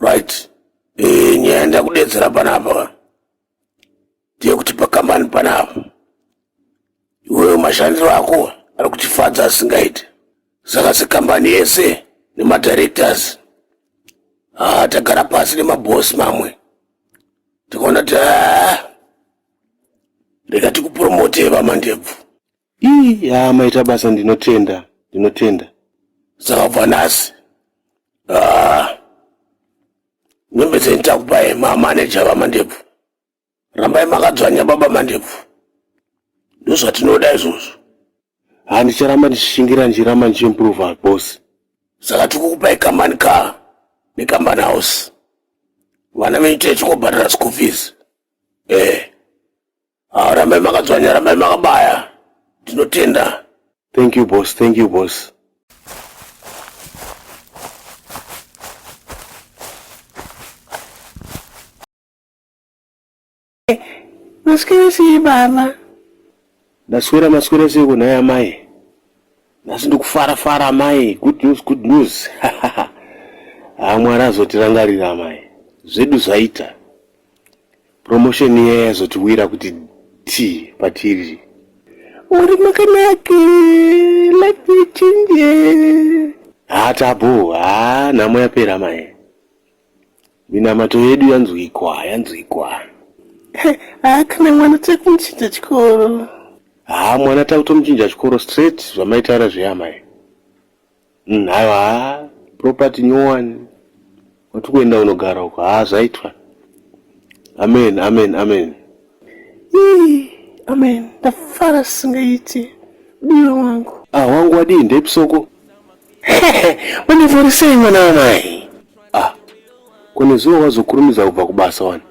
right eh, nyaya ndakudedzera panapa ndeyekuti pakambani panapa iweyo mashandiro ako ari kutifadza asingaiti saka sekambani yese nemadirectors haa ah, tagara pasi nemabhosi mamwe tikaona ti ah, rega tikupromote vamandebvu Ii haa maita basa ndinotenda ndinotenda. Saka kubva nhasi ah, nyembe dzenyu takupai mamaneja vamandebvu rambai makadzvanya baba mandebvu ndozvatinoda izvozvo haa ndicharamba ndichishingira ndichiramba ndichiimprova boss saka tikukupai kambani ka nekambani house vana venyu tee chikobhadhara school fees ee eh. Ah, rambai makadzvanya, rambai makabaya. Tinotenda. Thank you boss, thank you boss. Maswera sei baba? Ndaswera maswera sei kunhaya mai? nhasi ndokufara fara amai good news good news haa mwari azotirangarira amai zvedu zvaita promotion iya yazotiwira kuti t patiri uri makanake life ichinje haa tabo haa nhamo yapera amai Minamato yedu yanzwikwa, yanzwikwa. Haa kana mwana tiri kumuchinja chikoro. Haa mwana takutomuchinja chikoro straight zvamaitaura zveyamai. Mm, haiwa haa property nyowani. Wati kuenda unogara uko. Haa zvaitwa. Amen, amen, amen. Ii, amen ndafara singaiti diwe wangu ah wangu wadii ndepsoko wandivorisei mwana wamai ah kune zuva wazokurumidza kubva kubasa wani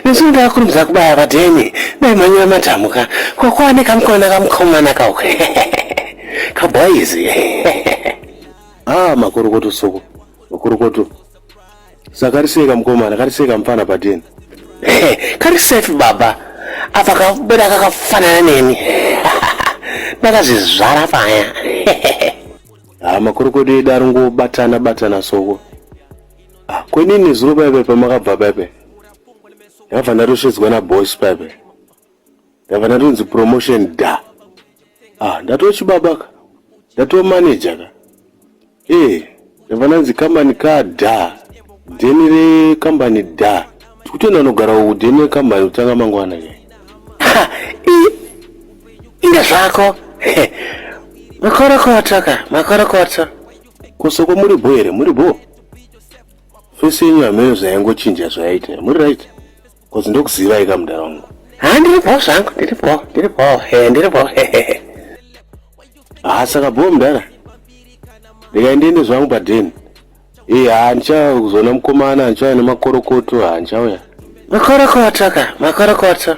nesu ndaakurumidza kubaya vadheni daimhanyira madhamuka kwakwane kamukona kamukomana kau kabhoizi ah makorokoto soko makorokoto sakariseka mukomana kariseka mufana pateni kari safe baba apa kabuda kakafanana neni ndakazvizvara paya ha ah, makorokodo edu ari ngobatana batana soko ah, kwenini zuro paipe pamakabva paipe ndakabva ndatosvedzwa nabos paipe ndakabva ndatonzi promotion da ah, ndatochibabaka ndatomanejaka Eh, vananzi kambani ka da dheni rekambani da tikutoenda unogara uku dheni rekambani kutanga mangwana nyaya Ha, i- inga zvako He, makorokoto ka makorokoto kosoko muri bho here muri bho fesi yenyu hameno zvayangochinja zvayaita muri right Kozi ndokuzivai ka mudhara wangu. Ha ndiri bho zvangu ndiri bho ndiri bho he ndiri bho he he he. Ha saka bho mudhara. Ndikaendende zvangu padeni. Ee ha ndichauya kuzoona mukomana ndichauya nemakorokoto ha ndichauya. Makorokoto ka makorokoto.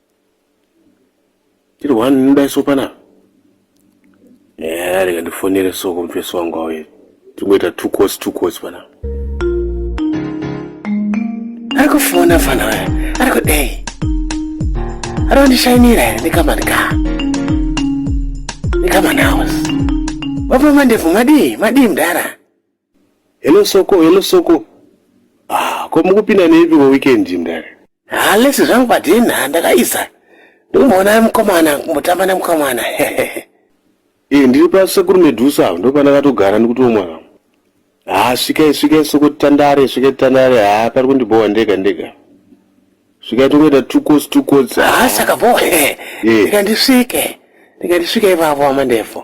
tiri one ndinoda iso panapa eya rega ndifonere soko mufesi wangu auye tingoita two course two course panapa ari kufona fana waya ari kudei ari kundishainira here nekamani ka nekamani house vapama ndevu madii madii mdara Hello Soko, hello Soko. Ah, ko mukupinda neipi ko weekend mdare? Ah, lesi zvangu padinha ndakaisa. Ndikumboona mukomana kumbotamba nemukomana. Eh, ndiri pa sekuru Medusa apo ndopandakatogara ndikutomwa kamo. Ah, svikai svikai Soko tandare, svikai tandare. Ah, pari kundibhowa ndega ndega. Svikai tongoita two coats two coats. Ah, saka bo. Eh. Ndikandisvike. Ndikandisvike ipapo amandefu.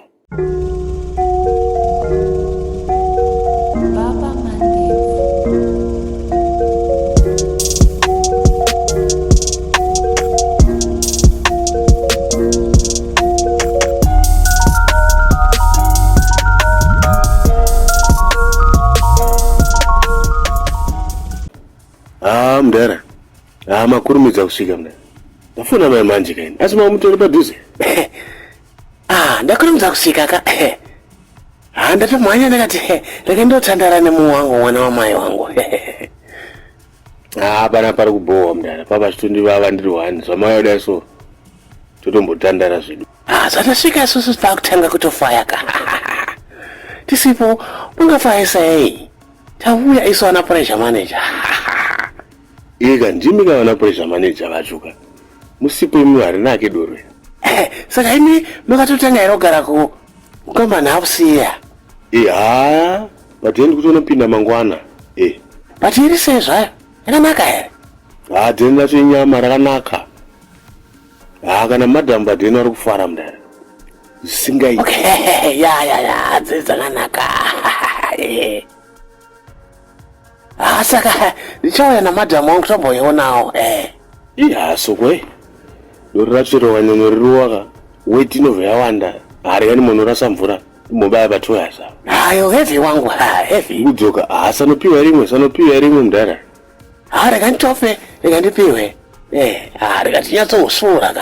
Ah, mdara. Ah, makurumidza kusvika mdara. Ndafona mai manje kaini. Asi mamutori padhuze. Ah, ndakurumidza kusvika ka. Eh. Ah, ndatomhanya ndakati eh, rega ndotandara nemunhu wangu mwana wamai wangu. Eh. Ah, pana pari kubhowa mdara. Papa zvitundi vava ndiri wani. Zvamai yoda so. Totombotandara zvedu. Ah, zvatasvika isusu takutanga kutofaya ka. Tisipo ungafayisa yei? Tauya isu ana pressure manager. Ega ndimi ka vana pressure manager vacho ka. Musipo imi harinake doro. Eh, saka imi makatotanga here kugara ko kamba nhapusi iya. Eh, haa but then kuti unopinda mangwana. Eh. But iri sei zvayo? Yakanaka here? Haa then racho inyama rakanaka. Haa kana madam but then vari kufara mudare. Zvisingaiti. Okay, ya ya ya, dzidza kanaka. asaka ah, ndichauya namadhamu wangu tomboionawo eh. ihasokwe dori ratsvirova nyonyo ririwaka weti inobva yawanda hariyani munhu rasa mvura mobaya patoyasa hayo hevi wangu hahevi kudzoka hasanopiwa rimwe sanopiwa rimwe mudhara ha rega nditofe rega ndipiwe eh, ha rega tinyatsousuura ka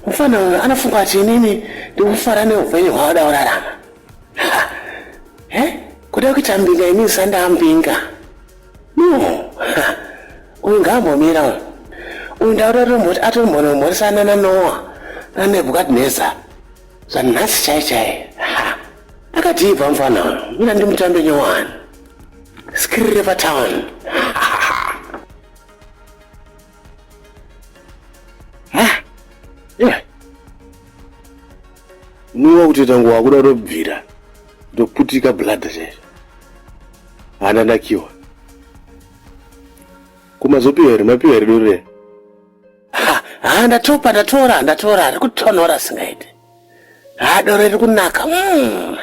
mfana uyo anafunga kuti inini ndikufara neupenyu hwaoda kurarama e kuda kuita mbinga inini sandaambinga no uyu ngaambomira uyu uyu ndauda tomboti atombonomhoresana nanoa nanebukadnezar zvanhasi chai chai akatiibva mfana uyo mina ndimutambe nyowani skirire patown Niwa kuti tangu wakuda kutobvira ndoputika bladha chaizvo hana nakiwa kumazopiwa here mapiwa here dore ha ndatopa ndatora ndatora ari kutonhora singaite haa doro riri kunaka mm.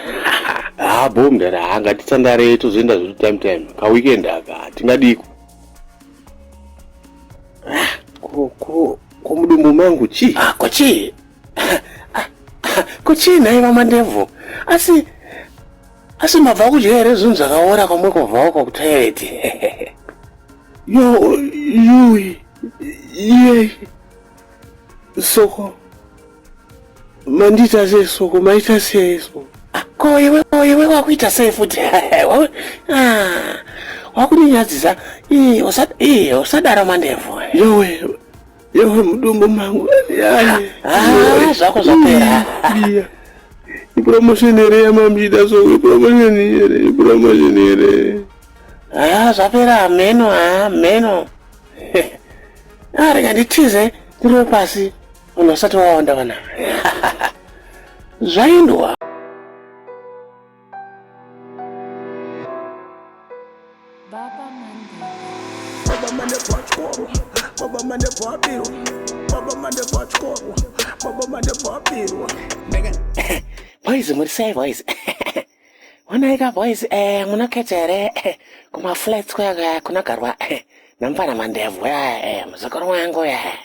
haa bho mdara haa ngatitsandarei tozoenda zvedu time time kaweekend aka tingadiko ah, ko mudumbu mangu chii ah, ko chii ah, ko chii nhai vamandebvu asi asi mabva kudya here zvinhu zvakaora kwamwe kwabvawo kwakutoireti yo yui yei soko Mandiita sei so ko maita sei so? Ah, ko iwe ko iwe wakuita sei futi? Ah, wakuninyadzisa. Ii usad ii usadaro mandebvu. Yowe. Yowe mudumbu mangu. Ah, ah zvako zvapera. Iya. Ipromotion here yamamida so ipromotion here ipromotion here. Ah, zvapera hameno ah, hameno. Ah, rega nditize ndiro pasi. Munhu asati wawanda vana. Zvaindwa. Baba mane. Baba mane pachikoro. Baba mane pabiro. Baba mane pachikoro. Baba mane pabiro. Ndega. Boys muri sei boys? Wanaika boys eh munaketa here eh, kuma flats kuya kunagarwa eh, namfana mandevhu ya eh, muzukuru wangu ya. Eh.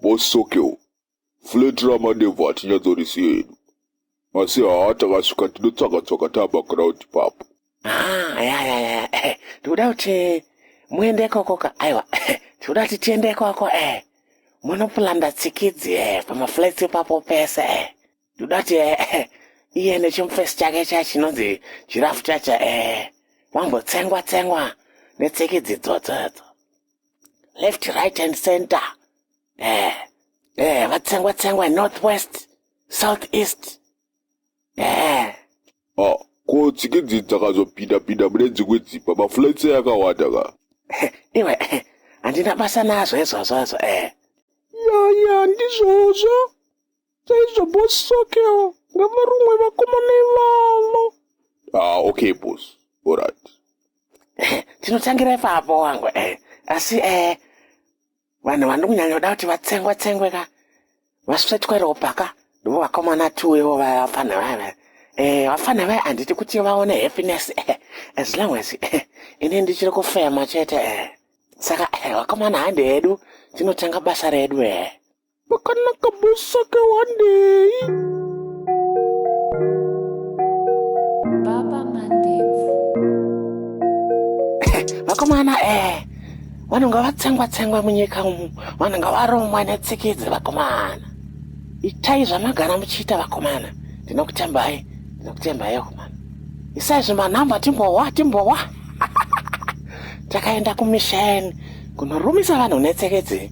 Boss Sokel, flat ramadevhu hatinyatsorizive hedu asi haa takasvika tinotsvaga tsvaga taa paground ipapo. Haa yayaya eh, tikuda kuti muende ikoko ka aiwa eh, tikuda kuti tiende ikoko eh. Munopulanda tsikidzi eh, pamaflats ipapo pese eh. ndoda kuti eh, eh, iye nechimufesi chake cha chinonzi jirafu chacho eh, wambotsengwa tsengwa netseki dzidzodzodzo left right and center eh, eh, vatsengwa tsengwa north west south east eh. ah, ko tsiki dzidzi dzakazopinda pinda mune dzimwe dzimba mafulaitse yakawanda ka iwe eh, handina basa nazvo izvozvo izvo eh. yaya ndizvozvo Chaizvo boss sokewo ngavarumwe vakomana ivavo. Ah, okay boss. Alright. Tinotangira ipapo wangu eh. Asi eh vanhu vandi kunyanya kuda kuti vatsengwe tsengwe ka. Vasvetwe ropa ka. Ndivo vakomana two ivo vafana vaya. Eh, vafana vaya handiti kuti vaone happiness eh. As long as eh, ini ndichiri kufema chete eh. Saka eh, vakomana handi hedu tinotanga basa redu eh. Makanaka boss ake wandei. Baba Mandebvu. Vakomana eh. Vanonga vatsengwa tsengwa munyika umu. Vanonga varomwa netsikidzi vakomana. Itai zvanagara muchiita vakomana. Ndinokutembai. Ndinokutembai vakomana. Isai zvimanhamba timbowa timbowa. Takaenda kumisheni kunorumisa vanhu netsikidzi.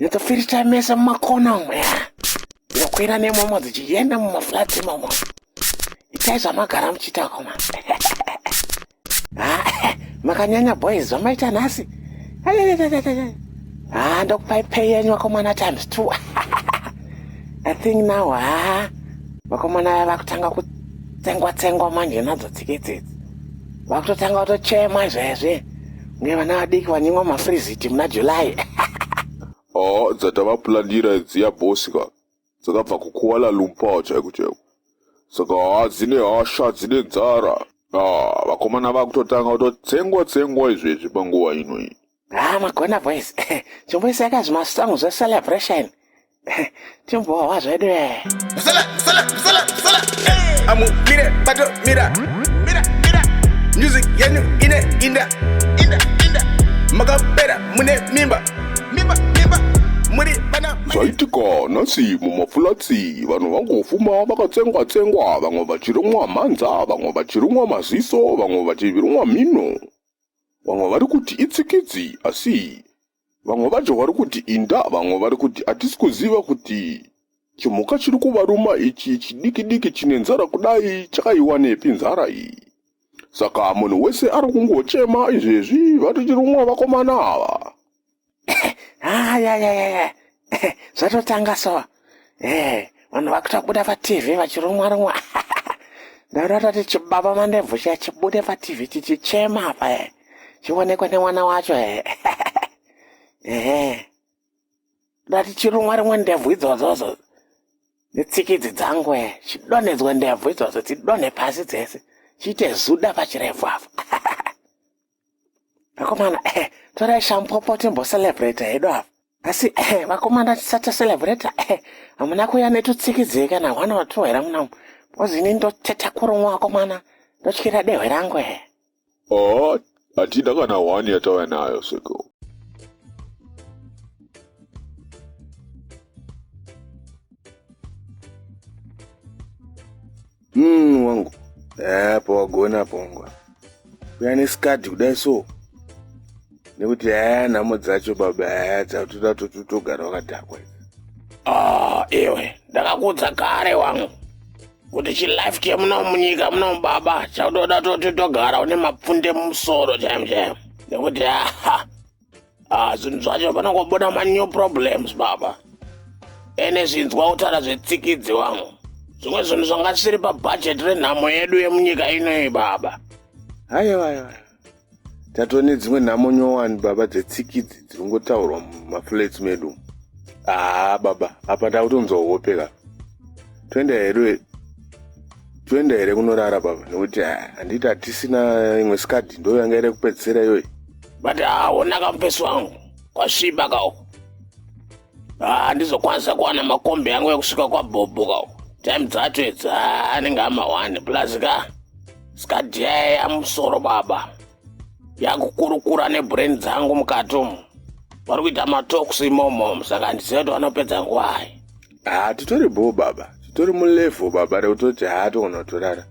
Ndakafirita mese mumakona umo ya. Ndokwira nemomo dzichienda mumaflats imomo. Itai zvamagara muchiita koma. Ah, makanyanya boys zvamaita nhasi. Ah, ndokupai pay yenyu vakomana times two. I think now ah, vakomana vaya vakutanga kutsengwa tsengwa manje nadzo tsike dzidzi. Vakutotanga kutochema izvezvi. nevana vadiki vanyimwa mafriziti muna july haa dzatavapulandira idziya bosi ka dzakabva kukuwala lumpao chaiko chaiko saka haa dzine hasha dzine nzara haa vakomana vakutotanga kutotsengwa tsengwa izvezvi panguva inoyi haa magona boys chimboisai ka zvimasango zvecelebration Timbo wazvedu eh. Msala, msala, msala, msala. Hey. Amu mire bato mira. Mira, mira. Music yenu ine inda. Inda, inda. Makapera mune mimba. Mimba, mimba. Muri bana. Zvaitika nhasi mumafulatsi vanhu vangofuma vakatsengwa tsengwa vamwe vachirumwa mhanza vamwe vachirumwa maziso vamwe vachirumwa mhino vamwe vari kuti itsikidzi asi Vamwe vacho vari kuti inda, vamwe vari kuti hatisi kuziva kuti chimhuka chiri kuvaruma ichi chidikidiki chine nzara kudai chakaiwanepi nzara iyi. Saka munhu wese ari kungochema izvezvi vati tirumwa vakomana ava. Ayayayaya, ah, ah, ah, zvatotanga so. ee eh, vanhu vakuita kubuda patv vachirumwa rumwa ndaurata ti chibaba mandebvu chiya chibude patv chichichema apa e chionekwe nemwana wacho e ehe ndati chirumwa rimwe ndebvu idzozozo netsikidzi dzangu e chidonhedzwe ndebvu idzozo dzidonhe pasi dzese chiite zuda pachirebvu apo vakomana eh, torai shampopo timbocelebrate hedu apa asi eh, vakomana tisati tacelebrate eh, hamuna kuya netutsikidzei kana one or two here munamu because ini ndoteta kurumwa vakomana ndotyira dehwe rangu he haa hatida kana one yatauya nayo sekuru mm, wangu haa eh, pawagona pongwa kuya nesikadhi kudai so nekuti haa eh, nhamo dzacho baba haa eh, dzatoda totogara wakadhakwa ah, iwe ndakakuudza kare wangu kuti chilife chemuno munyika muno baba chaudoda toti togara une mapfunde mumusoro chaimo chaimo nekuti aha ah, zvinhu zvacho panongobuda manew problems baba ene zvinzwa kutaura zvetsikidzi wangu zvimwe zvinhu zvanga zvisiri pabhajeti renhamo yedu yemunyika inoyi baba aiwa aiwa tatova nedzimwe nhamo nyowani baba dzetsikidzi dziri kungotaurwa mumaflats medu umu haa baba apa takutonzwa hope ka toenda here toenda here kunorara baba nekuti handiti hatisina imwe skadi ndo yanga iri kupedzisira iyoyi but haona ah, kamupesi wangu kwasviba kauko handizokwanisa ah, kuwana makombi yangu ekusvika kwabhobho kauko time dzacho idzi ah, anenge amahwani plus ka sikadyaya musoro baba yakukurukura nebrain dzangu mukati umu vari kuita matoks imomo saka handiziva kuti vanopedza ngwai haa titori bhoo baba titori mulevel baba rekutoti haa togona kutorara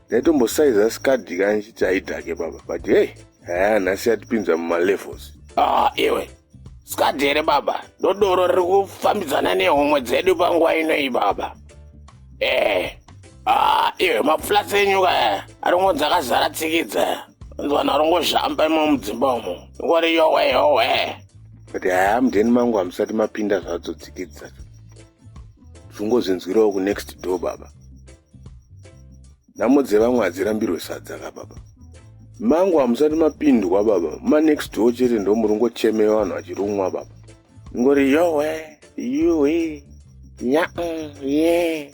ndaitombosaiza skadhi kani chiti haidhake baba but hey haa nhasi yatipinza mumalevels haa ah, iwe skadhi here baba ndodoro riri kufambidzana nehomwe dzedu panguva inoi baba ee eh. Ah, iwe mapfulasi enyu kaya aringonzi akazara tsikidza anzwana aringozhamba imo mudzimba umo ingori yowe yowe but haya mudheni mangu hamusati mapinda zvadzo dzikidzi dzacho zvingozvinzwirawo kunext door baba nhamo dzevamwe hadzirambirwe sadza ka baba mangu hamusati mapindwa baba manext door chete ndomuringochemei vanhu vachirumwa baba ingori yowe yuwe nyaa ye yeah.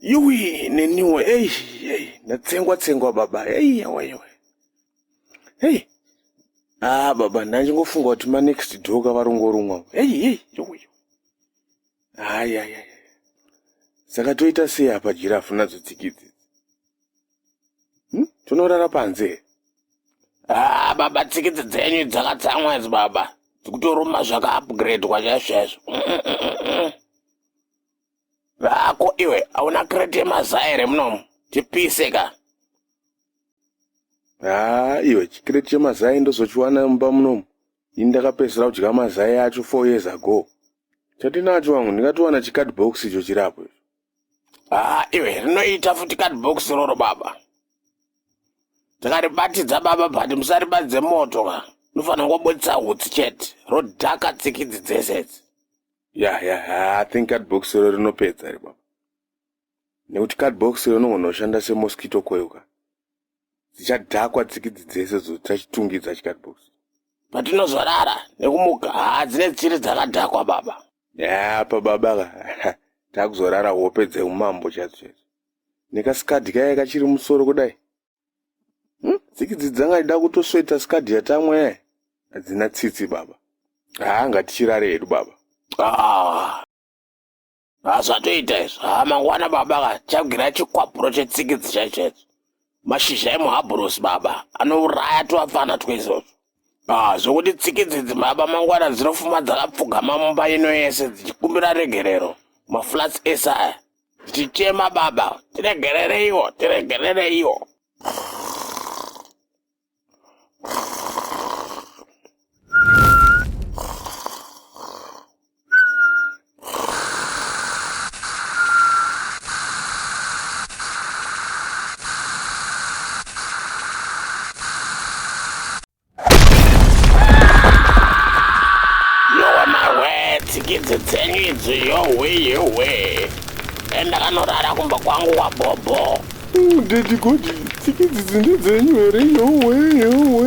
yuwi neniwo ei ei ndatsengwa tsengwa baba ei yawaiwa ei ah baba ndandingofunga kuti manext doka varongorumwa ei ei yuwi hayi hayi hayi saka toita sei apa jirafu nadzo tsikidzi hmm? tonorara panze ah baba tsikidzi dzenyu dzakatsamwa idzi baba dzikutoruma zvakaupgradwa chaizvo chaizvo mm, mm, mm, Vako iwe hauna kreti yemazai here munomu? Tipise ka. Haa iwe chikreti chemazai ndozochiwana mumba munomu. Ini ndakapedzisira kudya mazai acho four years ago. Chatinacho wangu ndingatowana chicard box icho chiri apo icho. Haa iwe rinoita futi card box roro baba. Takaribatidza baba but musaribatidze moto ka. Unofanira kungoburitsa hutsi chete. Rodhaka tsikidzi dzese idzi. ya ya ya i think cardbox iro rinopedza iri baba nekuti cardbox iro inogona kushanda semosquito coil ka dzichadhakwa tsikidzi dzese dzoita chitungidza chicardbox patinozorara nekumuka haa dzine tsiri dzakadhakwa baba ya pa baba ka takuzorara hope dzeumambo chadzo chadzo nekasikadhi kaye kachiri musoro kudai Hmm? Tsiki dzidzi dzanga dzida kutosveta skadhi yatamwe eh? hadzina tsitsi baba. Haa ngatichirare hedu baba. Ah. Hazvatoita izvo. Haa mangwana baba ka chagira chikwapuro chetsikidzi chaicho icho. Mashizha emuhabhurosi baba anouraya twapfana twaizvozvo. Ah, zvokuti tsikidzi idzi baba mangwana dzinofuma dzakapfugama mumba ino yese dzichikumbira regerero. Maflats ese aya. tichichema baba tiregerereiwo tiregerereiwo tsikidzi dzenyu idzi yohwe yohwe enda kanorara kumba kwangu wabhobho mm, dedi godi tsikidzi dzinde dzenyu here yohwe yohwe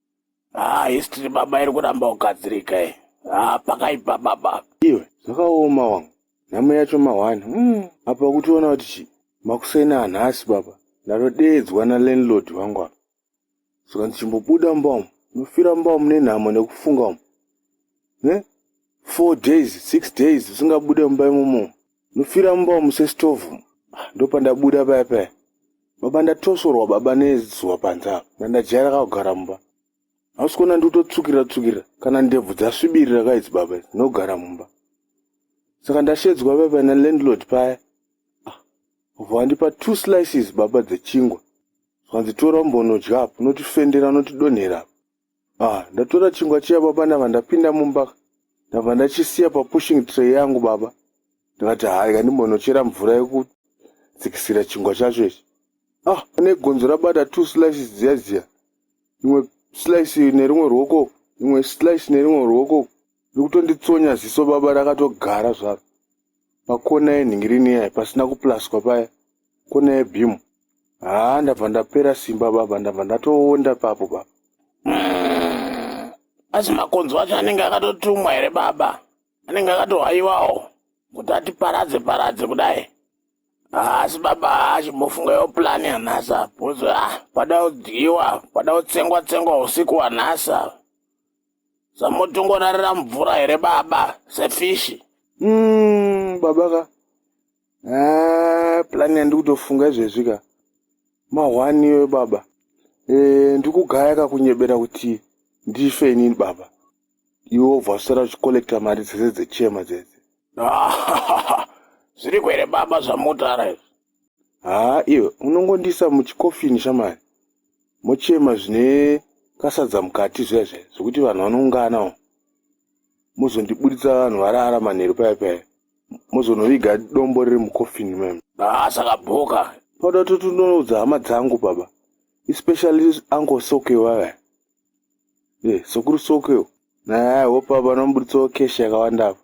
Ah, history baba iri kuramba kugadzirika iyi. Ah, pakaipa baba. Iwe, zvakaoma wangu. Nhamo yacho mahwani. Mm. Apa ukutiona kuti chi? Makuseni anhasi baba. Ndatodeedzwa na landlord wangu apa. Saka ndichimbobuda mumba umu. Ndofira mumba umu nenhamo nekufunga umu. Ne? Four days, six days usingabude mumba imomo. Nofira mumba umu sestovhu ndopandabuda paya paya baba ndatosorwa baba nezuva panze apa ndandajaira kakugara mumba hausi kuona ndikutotsukira tsukira kana ndebvu dzasvibirira kaidzi baba idzi ndinogara mumba saka ndashedzwa paya paya nalandlord paya ah, vobva vandipa two slices baba dzechingwa zvanzi tora umbonodya apo unotifendera unotidonhera apo Ah, ndatora chingwa chiya baba ndava ndapinda mumba ndava ndachisiya papushing tray yangu baba ndikati hayi kandimbonochera mvura yekudzikisira chingwa chacho ichi ah pane gonzo rabata two slices dziya dziya imwe slice nerimwe ruoko imwe slice nerimwe ruoko ndikutonditsonya ziso baba rakatogara zvaro pakona yenhingirini iya pasina kuplaswa paya kona yebhimu haa ndabva ndapera simba baba ndabva ndatoonda papo baba mm. asi makonzo acho anenge akatotumwa here baba anenge akatohaiwawo kuti atiparadze paradze kudai asi baba achimbofunga yo plani yanhasa bcoz a ah, pada kudyiwa pada kutsengwa tsengwa usiku wanhasa samotongorarira mvura here baba sefishi mm, baba ka ah, plani yandi kutofunga izvezvi ka mahwani iwe baba e, eh, ndi kugaya kakunyebera kuti ndife inini baba iwe wobva usara uchikolekta mari dzese dzechema dzese zviri kwere baba zvamutara izvi haa iwe unongondiisa muchikofini shamari mochema zvine kasadza mukati zviya zviya zvekuti vanhu vanounganawo mozondiburitsa vanhu varara manheru paya paya mozonoviga dombo riri mukofini mem haa zvakabhoka toda kuti tinoudza hama dzangu baba especially uncle soke vaya e eh, sokuru soke naye hope apa anomuburitsawo keshi yakawanda apa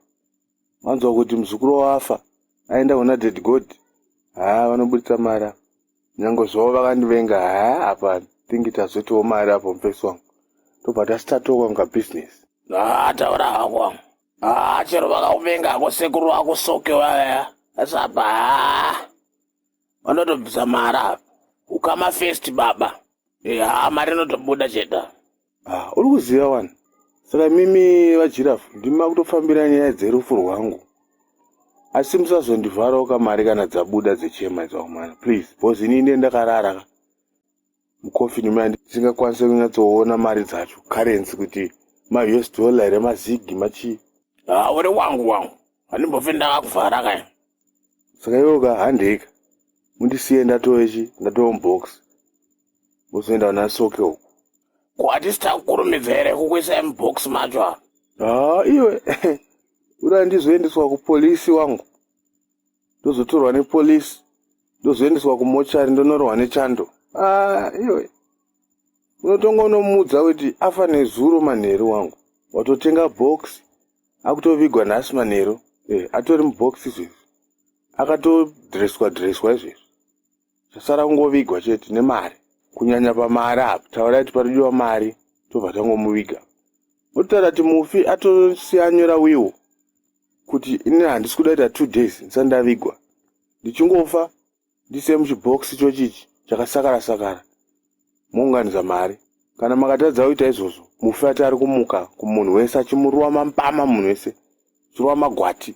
wanzwa kuti muzukuru wafa aenda kuna dead god haa vanoburitsa mari apa nyange zvavo vakandivenga haa apa thingi tazotiwo mari apo mufesi wangu tobva tasitatoka kunga business haa taura hako wangu haa chero vakakuvenga hako sekuru wako soke vaya asi apa haa vanotobvisa mari apa ukama fest baba haa mari inotobuda cheta Ah, uri kuziva wani saka mimi vajirafu ndimi makutofambira nyaya dzerufu rwangu asi musazondivharawo kamari kana dzabuda dzechema dzaumana please bcause ini ine ndakarara ka mukofini maya ndisingakwanise kunyatsoona mari dzacho currency kuti ma-us dollar here mazigi machii haa ah, uri wangu wangu handimbofe ndakakuvhara ka saka iwoka handika mundisiye ndatoechi ndatoo mubox Uzoenda kuna Soke uko. Ko hatisi takukurumidza here kukuisai mubox macho apa? Haa iwe uda ndizoendeswa kupolisi wangu ndozotorwa nepolisi ndozoendeswa kumochari ndonorohwa nechando aa iwe unotonga unomuudza kuti afa nezuro manheru wangu watotenga box akutovigwa nhasi manheru e, atori mubox izvezvi akatodreswa dreswa izvezvi zvasara kungovigwa chete nemari kunyanya pamari apa taurai kuti paridiwa mari tobva tangomuviga votaura kuti mufi atosiyanyora wiwo kuti ini handisi kuda ita two days ndisati ndavigwa ndichingofa ndise muchibhokisi chochichi chakasakara sakara mounganidza mari kana makatadza kuita izvozvo mufi ati ari kumuka kumunhu wese achimuruwa mambama munhu wese chiruwa magwati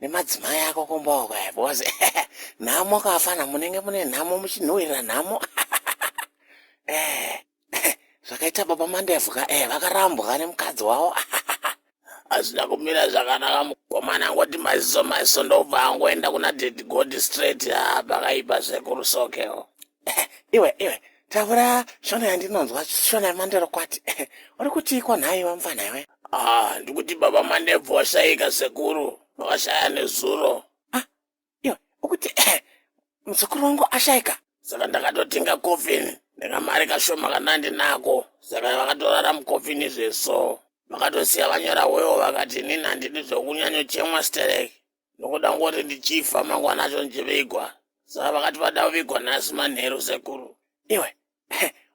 nemadzimai ako kumbawo kaya because nhamo kafana munenge mune nhamo muchinhuwirira nhamo eh, zvakaita baba mandevu ka eh, vakarambwa nemukadzi wavo hazvina kumira zvakanaka mukomana angoti maziso maziso ndobva angoenda kuna dedigod straight ha pakaipa zvekurusokewo Eh, iwe iwe taura shona yandinonzwa shona yemanderokwati Eh, uri kutiiko nhai wamfana iwe ah ndikuti baba manebvu washaika sekuru vakashaya nezuro ah iwe ukuti eh, muzukuru wangu ashaika saka ndakatotenga coffin nekamari kashoma kanandinako saka vakatorara mucoffin zveso vakatosiya vanyora wewo vakati nini handidi zvekunyanyochemwa sterek ndokuda kungoti ndichifa mangwana acho ndichivigwa saka vakati vada kuvigwa nhasi manheru sekuru iwe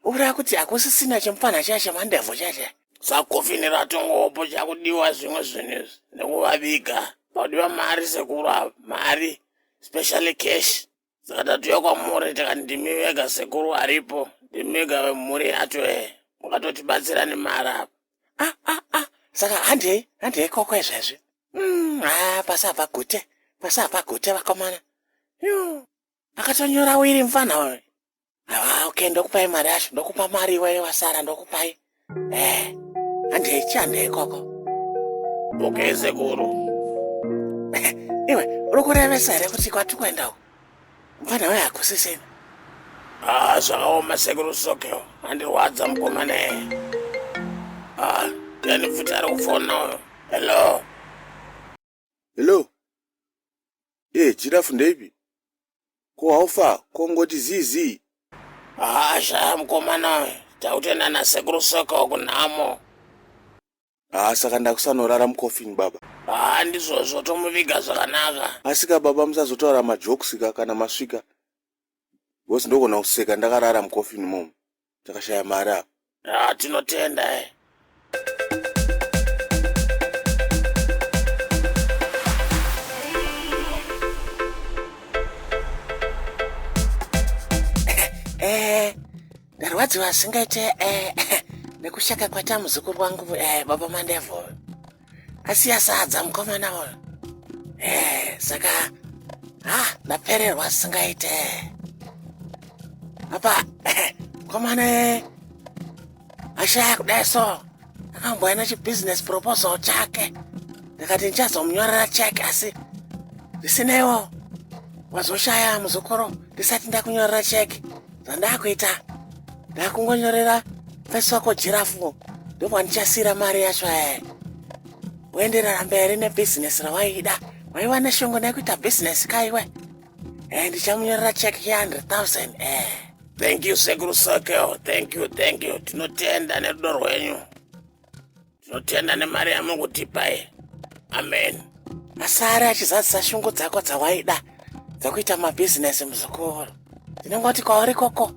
uraya kuti hakusisina chimupfanha chaya chemandevho chache sakofini ratongopo chakudiwa zvimwe zvinhu izvi nekuvaviga pakudiwa mari sekuru ava mari specially cash saka tatuya kwamuri tikati ndimi vega sekuru aripo ndimi vega vemhuri yacho e mukatotibatsira nemari apa ah ah ah saka handei handei koko izvezvi Mm, ah pasi apa gute pasi apa gute vakomana Yoo, akatonyora wiri mfana uyu Ah, okay, ndokupai mari yacho, ndokupa mari iwe wasara, ndokupai. Eh, handei chiandei ikoko. Okay, sekuru. Iwe, uri kurevesa here kuti kwati kuenda uko? Mfana uya hakusisina. Ah, zvakaoma sekuru Sokeo, handirwadza mukomana iye. Ah, yani futi ari kufona uyo. Hello. Hello? Eh, Giraffe ndeipi? Ko how far? Ko ngoti zii zii? Haa shaya mukomana uyu, takutoenda nasekuru soka uku nhamo. Haa saka ndakusanorara mucoffin baba. Haa ndizvozvo tomuviga zvakanaka. Asika baba musazotaura majokes ka kana masvika. Boss ndogona kuseka ndakarara mucoffin mom. Takashaya mari apa. Ah, tinotenda eh. Eh, ndarwadziwa asingaite eh, nekusheka kwata muzukuru wangu eh, baba mandevo. asiya sadza mukomana uyu eh, saka ha ah, ndapererwa singaite apa eh, mukomana eh, ashaya kudai so akambouya nechibusiness proposal chake ndikati ndichazomunyorera cheke asi zvisineiwo wazoshaya muzukuru ndisati ndakunyorera cheke zvandakuita ndakungonyorera fesi wako jirafu ndovandichasira mari yacho ee woenderera mberi nebhizinesi rawaida waiva neshungu nekuita bhizinesi kaiwe e ndichamunyorera cheki ye100 e thank you sekuru sokel thank you thank you tinotenda nerudo rwenyu Tinotenda nemari yamukutipa iyi. Amen. Asare achizadzisa shungu dzako dzawaida dzekuita mabhizinesi muzukuru. Ndinongoti kwauri koko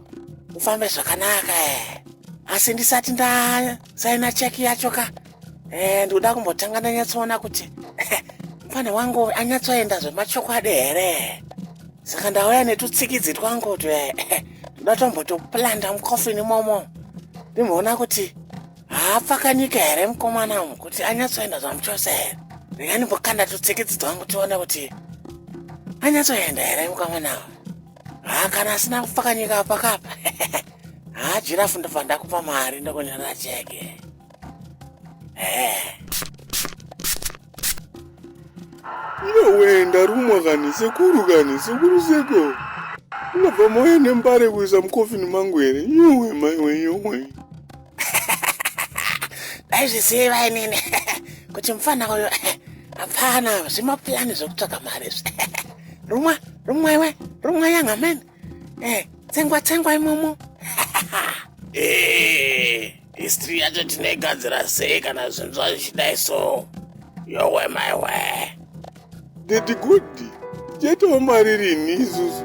ufambe zvakanaka eh. Asi ndisati ndasaina cheki yacho ka. Eh, ndikuda kumbotanga ndanyatsoona kuti mfana wangu uyu anyatsoenda zvemachokwadi here. Saka ndauya netutsikidzi twangu twe ndoda tombotoplanda mukofini momo. Ndimboona kuti haapfakanyika here mukomana umu kuti anyatsoenda zvamuchose here ndingani mbokanda tutsikidzi twangu tione kuti anyatsoenda here mukomana umu haa kana asina kupfakanyika apakapa haa jirafu ndobva ndakupa mari ndokunyorera cheke iwewe ndarumwa kani sekuru kani sekuru seko unobva mauya nembare kuisa mukofini mangu here yowe maiwe yowe ndaizviziva inini kuti mufana uyo hapana zvimapulani zvekutsvaka mari izvi rumwa rumwa iwe rumwa young man eh, tsengwa tsengwa imomo eh, history yacho tinoigadzira sei kana zvinhu zvazvichidai so yowe maiwe dadi gudi tichaitawo mari rini isusu